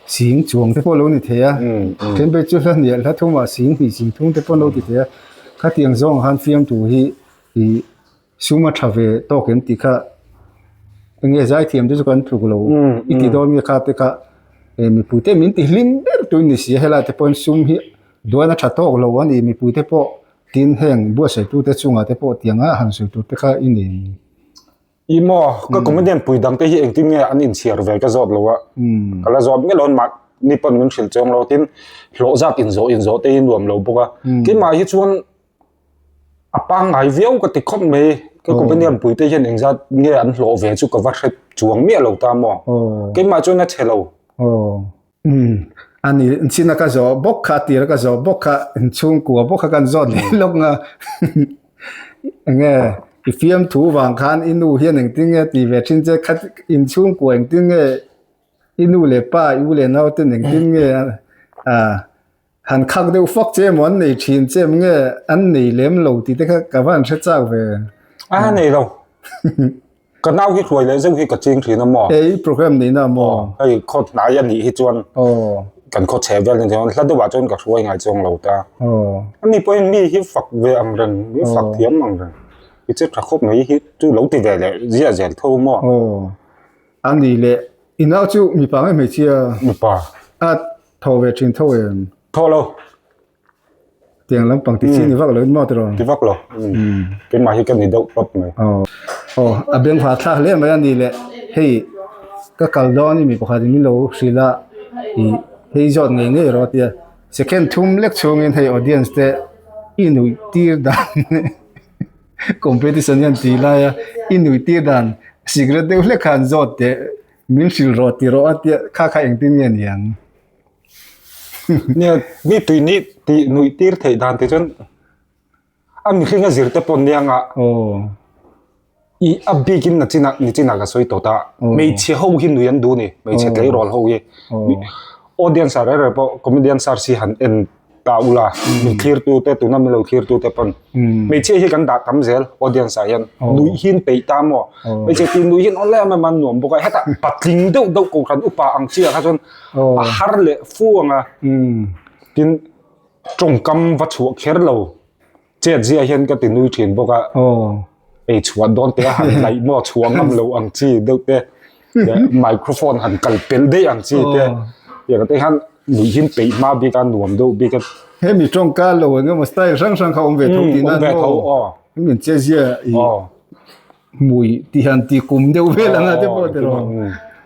sing chuang te pawh lo ni thei a, Cambridge chu hla hnial hla thum ah sing hnih ching thung te pawh lo ti thei a, khatiang zawng ah khan fiamtu hi i sum a tha ve tawk em ti kha enge zaithiam te chu kan tluk lo i ti dawn nge kha te kha mipui te min ti hlim ber tawh in ni si a, helai te pawhin sum hi duan a tha tawk lo a ni, mipui te pawh tin heng buatsaihtu te chungah te pawh tiang a han sawi tur te kha i nei. I maw, ka comedian pui dang te hi engtin nge an inchhiar ve ka zawt lo a. Ka la zawt nge loin mah ni pawn min hrilh chawng lo. Tin, hlawh zat inzawh inzawh te hi a nuam lo bawk a. Tin mah hi chuan a pangngai viau ka ti khawp mai. Ka comedian pui te hian engzat nge an hlawh ve chu ka va hre chuang miah lo ta maw. Kei mah chuan a che lo. Umm. A ni. Chin a ka zawh bawk kha, a tir a ka zawh bawk kha, chhungkua bawk kha kan zawt leh lawk nga. Eng nge? I fiam thu vang khan i nu hian engtin nge ti ve thin che? Kha in chhungkua engtin nge? I nu leh pa, i u leh naute nen engtin nge? Aah. Han khak deuh fak che emaw an nei thin che em nge an nei lem lo ti te kha ka van hre chak ve. A nei lo. ka nau hi hluai leh zeuh hi ka ching thin a maw ei program nei na maw ei kho hnai a nih hi chuan kan kho chhe vel ni chuan hla deuhah chuan ka hluai ngai chuang lo ta ani pawh mi hi fak ve ang reng mi fak thiam ang reng i che tha khawp mai hi chu lo ti ve leh zia zel tho maw ani le inau chu mipa nge hmeichhia mipa a Tho ve thin tho em. Tho lo. Tiang lam pang ti chi ni vak lo in mo tiro. Ti vak lo. Ke ma hi ka ni deuh pap mai. Oh. Oh, a beng va thlak le mai ani le. Hei ka kal dawn i mi pakhat in min lo hrilh a i hei zawt ngei ngei rawh tia. Second thum lek chhung in hei audience te i nuih tir dan competition hian ti lai a i nuih tir dan cigarette deuh hlek kha an zawt teh. Min hrilh rawh ti rawh a tia kha kha engtin nge ni ang. Nia mi tui ni tih nuih tir theih dan te chuan a mihring a zir te pawn niang a i a bik in na chinah ni chinah ka sawi tawt a hmeichhe ho hi nui an duh ni hmeichhe tleirawl ho hi audience ah rei rei pawh comedian sir si han en ta ula min thlir tu te tuna min lo thlir tu te pon me che hi kan da tam zel audience a yan nui hin pei ta mo me che ti nui hin onle ma man nuam boka heta patling do do ko kan upa ang chi kha chon a har le fu anga tin tong kam va chu kher lo Chet zia hian ka ti nui thin bawk a. Aw. Ei chhuah dawn teh a han laih maw chhuah ngam lo ang chi deuh te. Microphone han kal pel daih ang chi te. Tia ka te hian nuihin peih hma bik a nuam deuh bik a. Hemi tawngkar lo engemaw style hrang hrang kha awm ve tho tihna an maw? Awm ve tho aw. Min che zia i. Aw. Mui tih hian ti kum deuh vel ang a te pawh te rawh.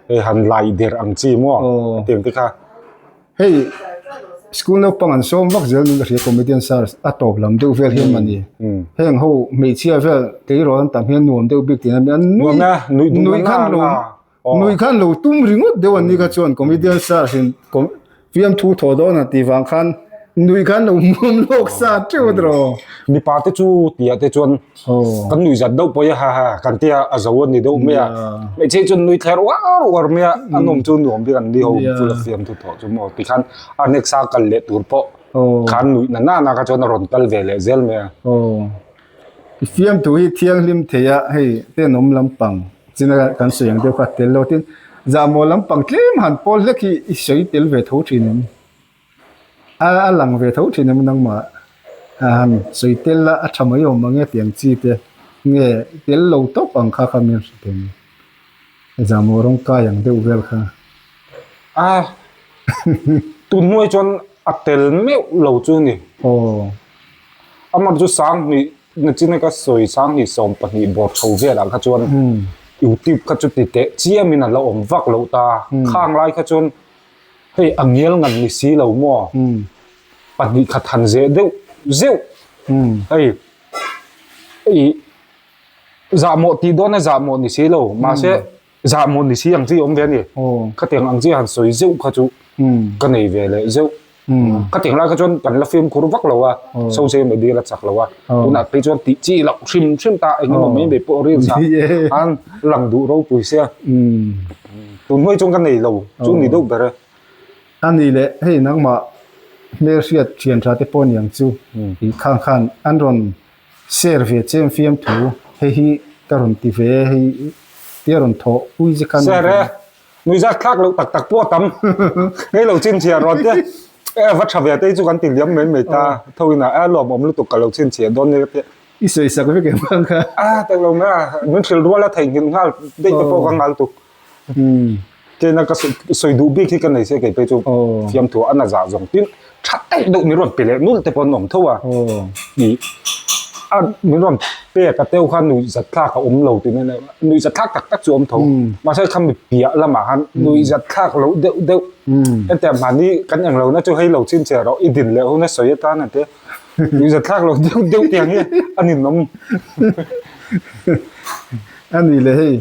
Hei han lai der ang chi maw? Ka ti ang te kha. Hei school naupang an sawm vak zel min ka hria comedian sir a tawp lam deuh vel hi a mani. Heng ho hmeichhia vel kei rawh an tam hian nuam deuh bik tih hian an nui nuih khan lo. Nui khan lo tum ringawt deuh an ni kha chuan comedian sir sin fiam thu thaw dawn a tih vang khan nui khan lo muam lawk sa teuh draw. Mipa te chu ti ah te chuan kan nui zat deuh pawh ha ha kan ti a a zo a ni deuh mai a. Hmeichhe chuan nui thler uar uar mai a an awm chu nuam bik an ni ho chu la fiam thu thaw chu maw ti khan a next a kal leh tur pawh khan nui na na na kha chuan a rawn kal ve leh zel mai a. I fiamtu hi thianghlim theia hei ten awm lampang chin a kan sawi ang deuh kha tel lo tin zahmawh lampang tlem han pawl hlek hi i sawi tel ve tho thin em a a lang ve tho thin em nangmah a han sawi tel a a tha mai awm ange tiang chi te nge tel lo tawp ang kha kha min hre thei. Exam-aw rawng kai ang deuh vel kha. Aaa tunhnuai chuan a tel meuh lo chu ni. Aww. Amar chu sanghnih nachina ka sawi sanghnih sawm pahnih bawr tho velah kha chuan youtube kha chu ti teh chiamin a la awm vak loh ta. Khang lai kha chuan hei a ngial nghan ni si lo maw pahnih khat han zeh deuh zeuh hei hei Zahmawh tih dawn a zahmawh ni si lo, mahse zahmawh ni si ang chi awm ve a ni. Khatiang ang chi han sawi zeuh kha chu ka nei ve leh zeuh. Khatiang lai kha chuan kan la fimkhur vak lo a, Soze mai bial a chak lo a, tunah phei chuan tih chi loh hrim hrim ta eng emaw mai mai pawh reels ah khan lang duh ropui se a. Tun hnuai chuan ka nei lo, chu ni deuh ber e. A ni le, hei nangmah hmelhriat thianṭha te pawh niang chu, khang khan an rawn Sir ve che em fiam thu hei hi ka rawn ti ve e hei tia rawn thawh pui zia khan. Sir e, nuihzat thlak loh tak tak pawh a tam. Ngei lo chhinchhiah rual teh. E va tha ve te hi chu kan ti liam mai mai ta. Tho in a a lawm awm lutuk ka lo chhinchhiah dawn nia ka ti a. I sawisak vek em ang kha. A tak lo meh a, min hrilh rual a theihnghilh nghal daih te pawh ka ngal tuk. Hmm. Thế na ka soi duh bik hi ka nei se kei pe chu fiam thu ana za zong tin tha tai deuh min rawn pe leh nul te pawh an awm tho a. Ni a min rawn pe ka teu khan nui zat thlak a awm lo tin a nui zat thlak tak tak chu awm tho. Mahse kha mi piah lamah han nui zat thlak lo deuh deuh. Hetiang mahni kan eng lo na chu hei lo chin che rawh i din leh hun a sawi atan ang te. Nui zat thlak lo deuh deuh tiang hi a ninawm. Ani le hei.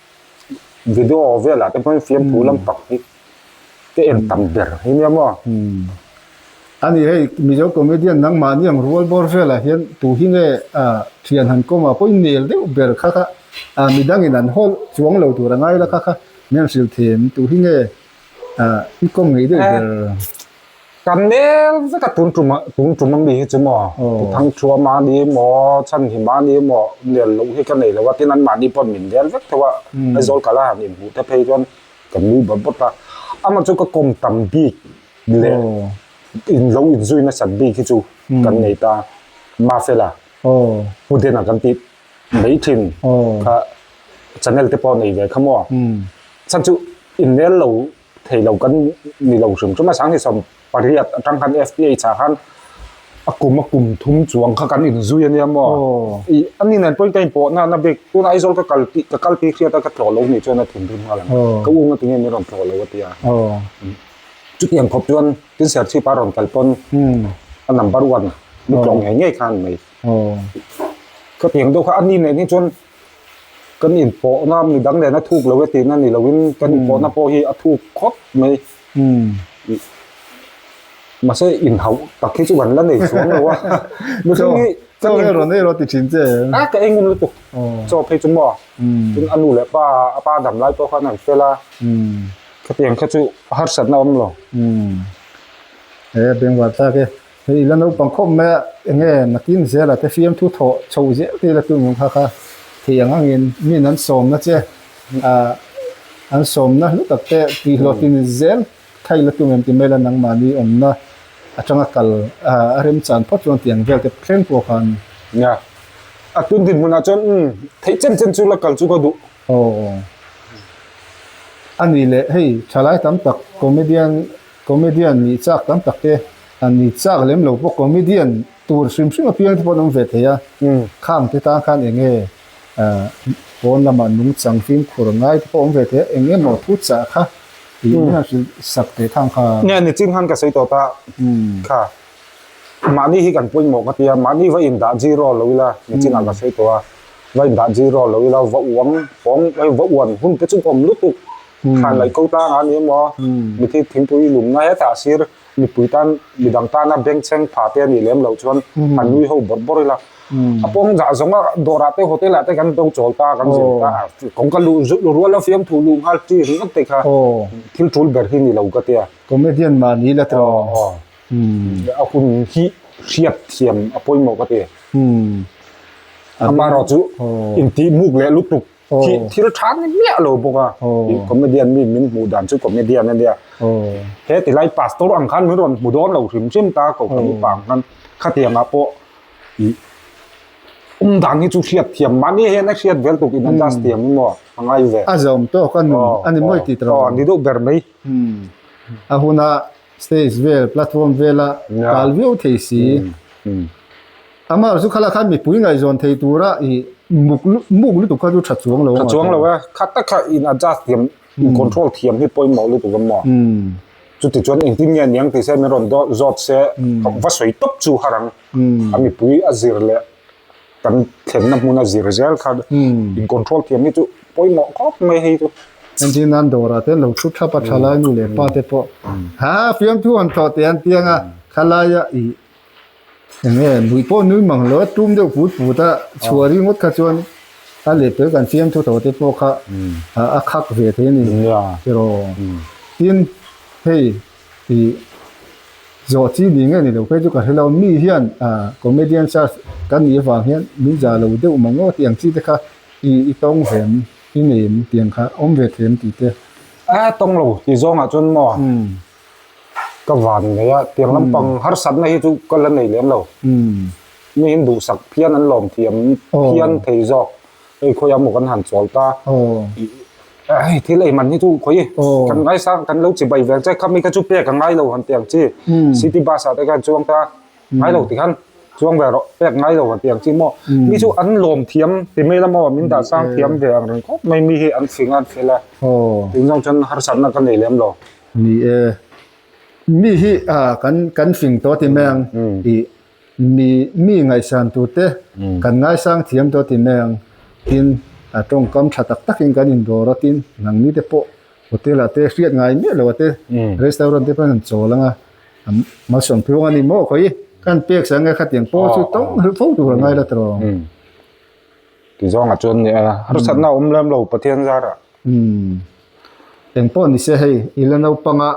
video velah te hman fiam thu lam tak hi ka en tam ber hi nia maw ani hei mizo comedian nang mahni ang rual bawr velah hian tu hi nge a thian han kawm a pawhin nel deuh ber kha kha a midang in an haw chuang lo tur a ngai la kha kha mian hrilh thin tu hi nge a i kawm ngei deuh ber. Kan nel vek a tun tum tun tum ami hi chu maw ti thang thu a mah ni maw chhan hi mah ni maw nel loh hi ka nei lo a tin an mahni pawh min rel vek tho a a zawl ka la han in hmuh te phei chuan ka mu bawt bawt a ama chu ka kawm tam bik leh in lo in zui nasat bik hi chu kan nei ta Mafela Huden a kan tih mai thin kha channel te pawh nei ve kha maw chhan chu in nel lo thei lo kan ni lo hrim chu masang hi sawm pariat atang khan fph ah khan a kum a kum thum chuang kha kan inzui a nia maw i a ni nen pawhin ka inpawh nan a bik tunah aizawl ka kal tih ka kal ti hriat a ka tlawh lo ni chuan a thin rim nghal ang ka ung a ti nge min rawn tlawh lo a tia chuti ang khawp chuan tin serthlip a rawn kal pawn a number one ni tlawh ngei ngei khan mai khatiang deuh kha a ni nen hi chuan Kan inpawhna midang nena thuk lo e tihna ni loin kan inpawhna pawh hi a thuk khawp mai. Mahse inhauh tak hi chu kan la nei chuang lo a. Chaw, Chaw hei rawn ei rawh ti thin che. A ka ei ngun lutuk. Chaw phei chu maw? Tin a nu leh pa a pa dam lai pawh khan an fel a. Khatiang kha chu a harsatna awm lo. He a beng vathlak e. Hei ila naupang khawp mai ah enge nakin zela te fiamthu thawh chho zel te ila tun kha kha thei ang ang in min an sawm na che ah an sawm na hlu tak te tih hlawh thin zel kha ila tum em ti mai ila nangmahni awm na atanga kal ah a rem chan phawt chuan tiang vel te thleng pawh khan nia a tun din hmun ah chuan umm theih chen chen chu la kal chu ka duh. Aw ani leh hei thalai tam tak comedian Comedian nih chak tam tak te an ni, chak lem lo pawh comedian tur hrim hrim apiangte pawh an awm ve thei a, khang te tan khan eng nge pawn lama nung chang fimkhur ngai te pawh awm ve thei a, eng emaw thu chah kha tih nge a hrilh sak teh thang kha. Nge ni chin khan ka sawi tawh ta kha, mahni hi kan pawimawh ka tia, mahni va indah zir aw lo ila ni chin ah ka sawi tawh a, va indah zir aw lo ila va uang hawng, va uan hun te chu awm lutuk Thlan laih ko tan a ni emaw? Mithiit thingpui lumna hetah a sir mipui tan, midang tana bengchheng pha te a nih lem lo chuan an nui ho bawr bawr ila. A pawng zah zawnga dawrah te hotel-ah te kan do chawl ta, kan zir ta. Kawng ka luh zulh rual a, fiam thu luh nghal chi ringawt te kha thil tul ber hi ni lo ka tia. Comedian mah ni la tawh. Aw aw. A hun hi hriat thiam a pawimawh ka ti. Ama erawh chu intih muk leh lutuk Thi thil tha ni miah lo bawk a. Hi comedian mi min hmuh dan chu comedian a nia. He tilai pastor ang khan min rawn hmu dawn lo hrim hrim ta Kokha mipa ang khan khatianga pawh i um dan hi chu hriat thiam mahni hian a hriat vel tuk in a dust thiam hi maw a ngai ve. A zawm tawk a nun a ni mawi tih rang. Ni duh ber mai. A huna stage vel platform vela kal viau thei si. Amah chu khala khan mipui ngaihzawn thei tura i muk lutuk muk lutuk kha chu tha chuang lo a. Tha chuang lo a, kha tak kha in adjust thiam, in control thiam hi pawimawh lutuk a maw? Chutichuan engtin nge niang tih se min rawn zawt se, va sawi tawp chu har ang. A mipui a zir leh kan thlenna hmun a zir zel kha in control thiam hi chu pawimawh khawp mai hi chu. Engtin nan dawrah te an lo thu thlap a, thalainu leh pate pawh, Haa fiamthu han thawh teh an ti ang a, thalaia i Eng nge lui pawh nui mang lo a tum deuh put put a chhuah ri ngawt kha chuan a leh tel kan fiam thu tawh te pawh kha a khak ve thei a ni erawh tin hei ih zawh chi ni ngei ni lo phei chu ka hre lo mi hian comedian size kan nih avang hian min za lo deuh mang lo tih ang chi te kha i i tawng ve em i nei em tih ang kha awm ve thei em tih te a tawng lo tih zawng ah chuan maw. Ka van mai a, tiang lampang harsatna hi chu ka la nei lem lo. Nihin duhsak phian an lawmthiam phian thei zawk hei khawiah maw kan han chawl ta. Hei thil eiman hi chu khawi kan ngai sang kan lo chibai vel che, khami kha chu pek a ngai lo han tih ang chi. City bus ah te khan chuang ta ngai lo ti khan chuang ve rawh, pek ngai lo han tih ang chi maw. Mi chu an lawmthiam ti mai lam aw, min dah sang thiam ve ang reng khawp mai mi hi an fing a an fel a. Eng zawng chuan harsatna ka nei lem lo. Ni e, mi hi kan hring tawh ti mai ang tih, mi ngaihsan tur te kan ngaisang thiam tawh ti mai ang tin, tawngkam tha tak takin kan indawr a tin, nang ni te pawh hotel ah te hriat ngai miah lo a te, restaurant te pawh an chawl ang a, malsawm tluang a ni maw khawi, kan pek sak ang e, khatiang pawl chu tawng hrilh fo tur a ngaila tawng. Tizuanga chuan nih a, harsatna a awm lem lo Pathian zarah. Umm. Eng pawh ni se hei, i la naupanga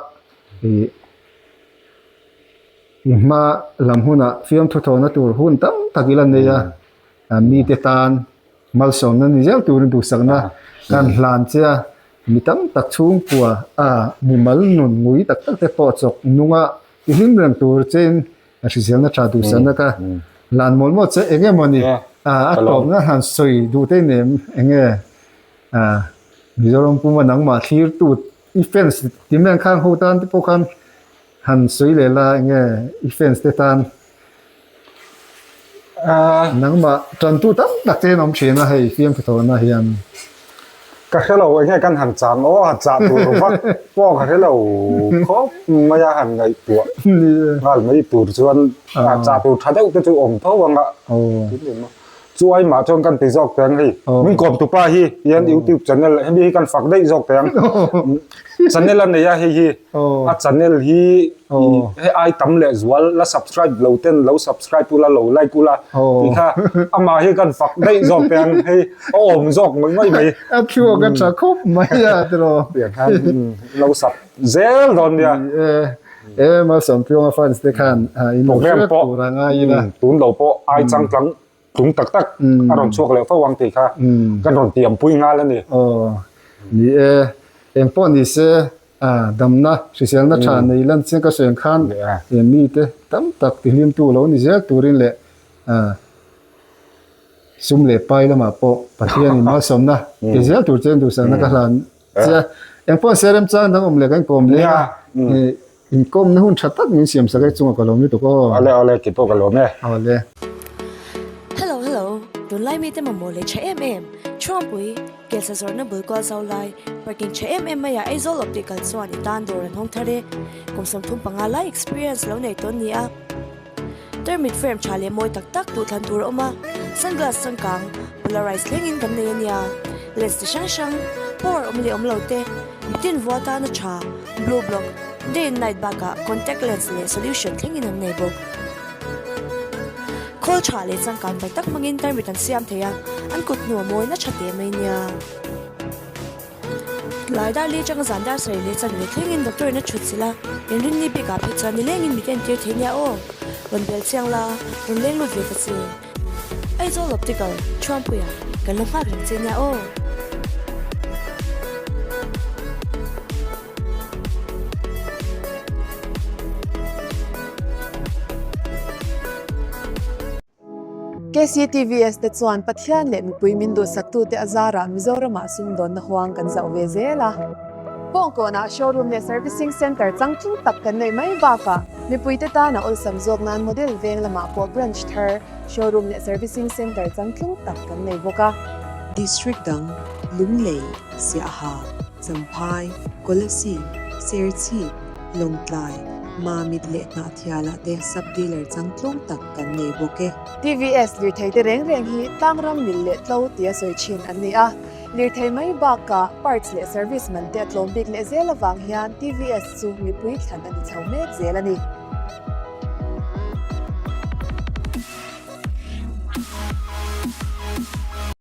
ih i hma lam hunah fiamthu thawhna tur hun tam tak i la nei a, mite tan malsawmna ni zel turin duhsakna kan hlan che a, mi tam tak chhungkua a mimal nun ngui tak tak te pawh chawk nunga tihlim reng tur chein, a hriselna tha duh sanna kha hlan mawl mawl che eng emaw ni a tawp na hlan sawi duh te nen eng nge Mizoram puma nangmah thlir tu i fans ti mian khang ho tan te pawh khan han sawi leh la eng nge i fans te tan Nangmah ṭantu tam tak te an awm ṭhin a, hei fiamtha thawhna hian. Ka hre lo, enge kan han cham aw a, chah tur vak pawh ka hre lo khawp mai a, han ngaihtuah nghal mai tur chuan chah tur ṭha deuh te chu awm tho ang a, tum em a. Chu ai mah chuan kan ti zawk teh ang hei, min kawmtu pa hi, hian YouTube channel hemi hi kan fak daih zawk teh ang. Channel a nei a hei hi a channel hi he ai tam leh zual la subscribe lo ten lo subscribe ula lo like ula tih kha amah hi kan fak daih zawk teh ang hei a awm zawk ngawih ngawih mai a thluak a tha khawp mai a ti lo tih ang khan lo sub zel dawn nia e Malsawmpiawnga fans te khan in hriat tur anga ila tun lo pawh ai chang tlang Tlung tak tak a rawn chhuak leh fo ang tih kha kan rawn tiam pui nghal a ni. Aw ni e, eng pawh ni se damna hriselna tha nei lan chiang ka hreng khan he mite tam tak ti hlimtu lo ni zel turin leh sum leh pai lamah pawh Pathianin malsawmna ti zel tur che duhsakna ka hlan Sia, eng pawh sia rem chang dang awm leh ka inkawm leh a, inkawmna hun tha tak min siam sak e, chungah ka lawm lutuk aw. Awle awle, kei pawh ka lawm e. Awle. Hello hello, tunlai mite mamawh leh tha em em, Chhuangpui, Kelsa zawrhna bul kual zau lai, parking tha em em mai ah Aizawl optical chuan i tan dawr an hawng thar e, kum sawm thum panga lai experience lo nei tawn nia. Termite frame tha leh mawi tak tak duhthlan tur a awm a, sunglass changkang polarise thlengin kan nei a nia, lens chi hrang hrang, power awm leh awm lo te, tin vua tana tha, blue block, day and night bakah contact lens leh solution thlengin an nei bawk. Khawl tha leh changkang tak tak hmangin termite an siam thei a, an kut hnu a mawina tha te mai nia. Tlai dar leh chang zan dar sawi leh chan ve thlengin doctor in a chhut sil a, in rinni bik ah phei chuan nilengin mit a entir thei nia aw, rawn bel chiang la, rawn leng lut ve ta che. Ai zo lawp tikal, thuampui ah kan lo nghak reng che nia aw. KCTVS te chuan Pathian leh mipui min duhsaktu te a zarah Mizoramah sumdawnna huang kan zauh ve zel a. Pawngkawnah showroom leh servicing centre chang thlum tak kan neih mai bakah mipuite tana awlsam zawk nan model veng lamah pawh branch thar, showroom leh servicing centre chang thlum tak kan nei bawk a. District dang, Lunglei, Siaha, Champhai, Kolasi, Serchhip, Lawngtlai, Mamit leh Hnahthiala te sub dealer chang tlawm tak kan nei bawk e. TVS lirtheite reng reng hi tlang ram mil leh tlo tia sawi thin an ni a, lirthei mai baka parts leh service man te a tlawm bik leh zel avang hian TVS chu mipui thlan a ni chho mek zel a ni.